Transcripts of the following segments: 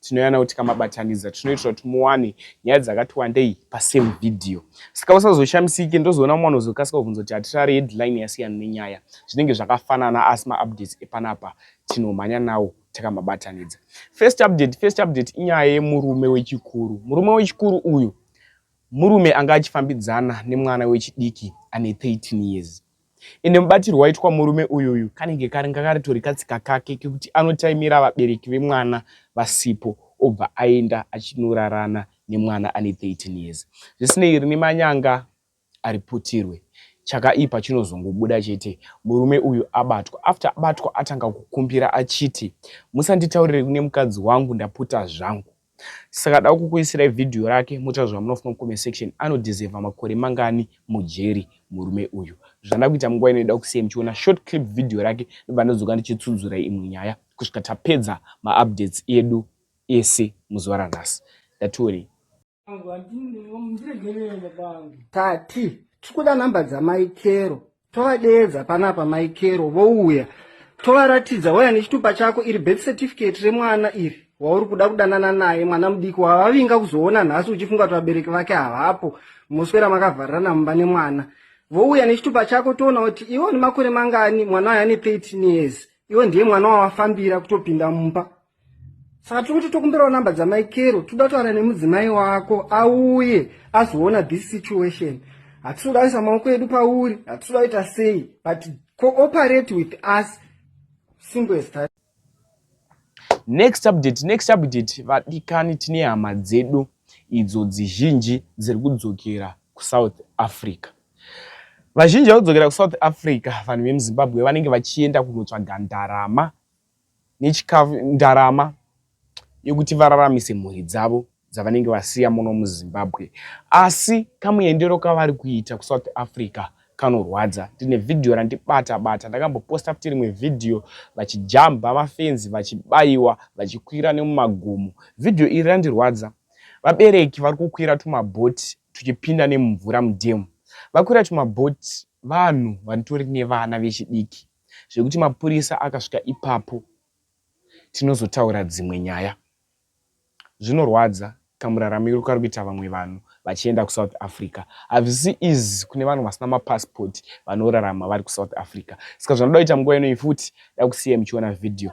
tinoyana kuti kamabatanidza tinoitira kuti muwane nyaya dzakati wandei pasame video saka usazoshamisike ndozoona mwana uzokasika kuvhunza kuti hatirari headline yasiyana nenyaya zvinenge zvakafanana asi maupdates epanapa tinomhanya nawo takamabatanidza first update first update inyaya yemurume wechikuru murume wechikuru uyu murume anga achifambidzana nemwana wechidiki ane 13 years ende mubatirwo waitwa murume uyuyu kanenge karanga karitori katsika kake kekuti anotaimira vabereki vemwana vasipo obva aenda achinorarana nemwana ane 13 years zvisinei rine manyanga ariputirwe chakaipa chinozongobuda chete murume uyu abatwa after abatwa atanga kukumbira achiti musanditaurire kune mukadzi wangu ndaputa zvangu Saka da kukuisirai video rake motaura zvamunofunga mucomment section anodeserva makore mangani mujeri murume uyu. Zvandada kuita munguva ino inoda kusiya muchiona short clip video rake ndobva ndodzoka ndichitsunzura imwe nyaya kusvika tapedza maupdates edu ese muzuva ranhasi. Ndatiwonei. Tati tikuda number dzamai Kero. tovadeedza panapa mai kero vouya tovaratidza waya nechitupa chako iri birth certificate remwana iri wauri kuda kudanana naye mwana mudiki wavavinga kuzoona nhasi uchifunga kuti vabereki vake havapo moswera makavharirana mumba nemwana vouya nechitupa chako toona kuti iwo nemakore mangani mwana wayo ane 13 years iwo ndiye mwana wawafambira kutopinda mumba saka tiri kuti tokumbirawo number dzamai kero tiri kuda kutaura nemudzimai wako auye azoona this situation hatisi kuda kuisa maoko edu pauri hatisi kuda kuita sei but cooperate with us simple as that next update next update vadikani tine hama dzedu idzo dzizhinji dziri kudzokera kusouth africa vazhinji vakudzokera kusouth africa vanhu vemuzimbabwe vanenge vachienda kunotsvaga ndarama nechikafu ndarama yekuti vararamise mhuri dzavo dzavanenge vasiya muno muzimbabwe asi kamuendero kavari kuita kusouth africa kanorwadza ndine vhidhiyo randibata bata ndakamboposta futi rimwe vhidhiyo vachijamba mafenzi vachibayiwa vachikwira nemumagomo vhidhiyo iri randirwadza vabereki vari kukwira tumabhoti tuchipinda nemumvura mudhemu vakwira tumabhoti vanhu vanitori nevana vechidiki zvekuti mapurisa akasvika ipapo tinozotaura dzimwe nyaya. Zvinorwadza kamuraramiro kari kuita vamwe vanhu vachienda kusouth africa hazvisi easy kune vanhu vasina mapassport vanorarama vari kusouth africa saka zvanoda kuita nguva inoyi futi dakusiya muchiona vhidhiyo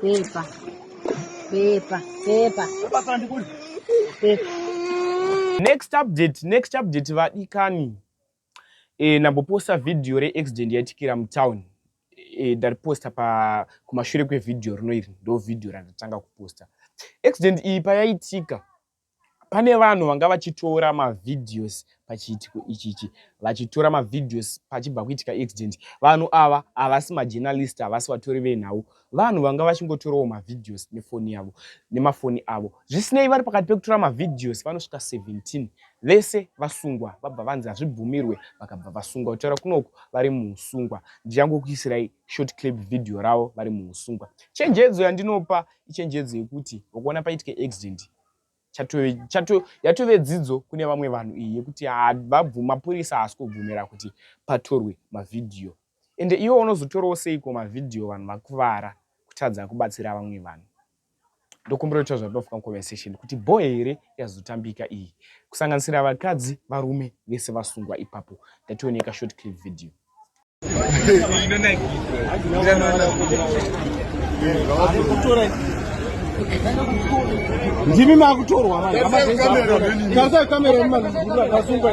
Pepa. Pepa. Pepa. Pepa sana ndikuli. Pepa. Next update, next update vadikani. Eh, namboposta video re accident yaitikira mutown. Eh, ndariposta pa kumashure kwevideo rino iri ndo video randatanga kuposta. Accident iyi payaitika Pane vanhu vanga vachitora mavideos pachiitiko ichichi vachitora mavideos pachibva kuitika accident. Vanhu ava havasi majournalist, havasi vatori venhau. Vanhu vanga vachingotorawo mavideos nefoni yavo, nemafoni avo. Zvisinei, vari pakati pekutora mavideos vanosvika 17 vese vasungwa vabva vanzi hazvibvumirwe vakabva vasungwa. Kutaura kunoku vari muhusungwa. Ndichangokuisirai short clip video ravo vari muhusungwa chenjedzo yandinopa ichenjedzo yekuti ukuona paitike accident yatove dzidzo kune vamwe vanhu iyi yekuti mapurisa haasi kubvumira kuti patorwe mavhidhiyo ende iwe unozotorawo seiko mavhidhiyo vanhu vakuvara kutadza kubatsira vamwe vanhu ndokumbira kuita zvatinofuka muconversation kuti bho here yazotambika iyi kusanganisira vakadzi varume vese vasungwa ipapo ndationeka short clip video ndimi makutorwa vanhuaaikamera mumaasungwa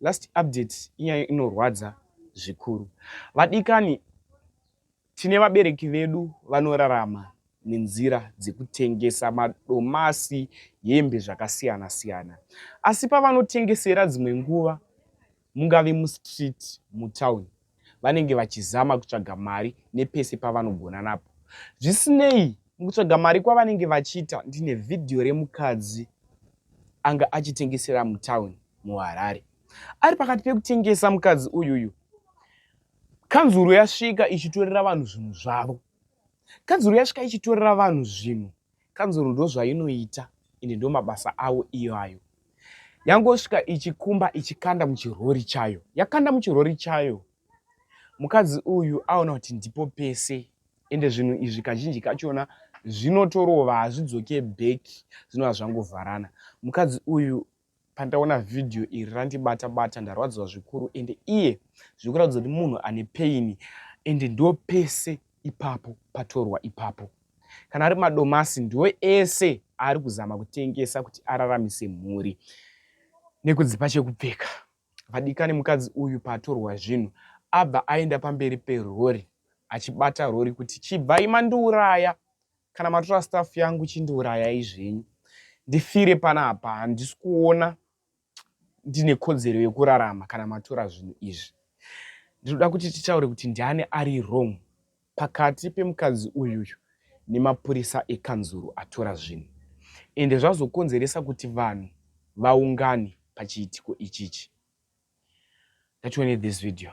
Last update inyaya inorwadza zvikuru vadikani tine vabereki vedu vanorarama nenzira dzekutengesa madomasi hembe zvakasiyana siyana asi pavanotengesera dzimwe nguva mungave mustreet mutown vanenge vachizama kutsvaga mari nepese pavanogona napo. Zvisinei, mukutsvaga mari kwavanenge vachiita, ndine vhidhiyo remukadzi anga achitengesera mutown muHarare. Ari pakati pekutengesa mukadzi uyuyu, kanzuru yasvika ichitorera vanhu zvinhu zvavo. Kanzuru yasvika ichitorera vanhu zvinhu Kanzuru ndozvainoita ende ndomabasa awo iwayo. Yangosvika ichikumba ichikanda muchirori chayo. Yakanda muchirori chayo mukadzi uyu aona kuti ndipo pese ende zvinhu izvi kazhinji kachona zvinotorova hazvidzoke back zvinova zvangovharana. Mukadzi uyu Pandaona video iri randibata bata ndarwadziwa zvikuru ende iye zvikuratidza kuti munhu ane pain ende ndo pese ipapo patorwa ipapo kana ari madomasi ndiwo ese aari kuzama kutengesa kuti araramise mhuri nekudzipa chekupfeka vadikani mukadzi uyu paatorwa zvinhu abva aenda pamberi perori achibata rori kuti chibvai mandiuraya Kana matora staff yangu chindiurayai zvenyu ndifire panapa handisi kuona ndine kodzero yekurarama kana matora zvinhu izvi ndinoda kuti titaure kuti ndiani ari wrong pakati pemukadzi uyuyu nemapurisa ekanzuru atora zvinhu ende zvazokonzeresa kuti vanhu vaungane pachiitiko ichichi that we need this video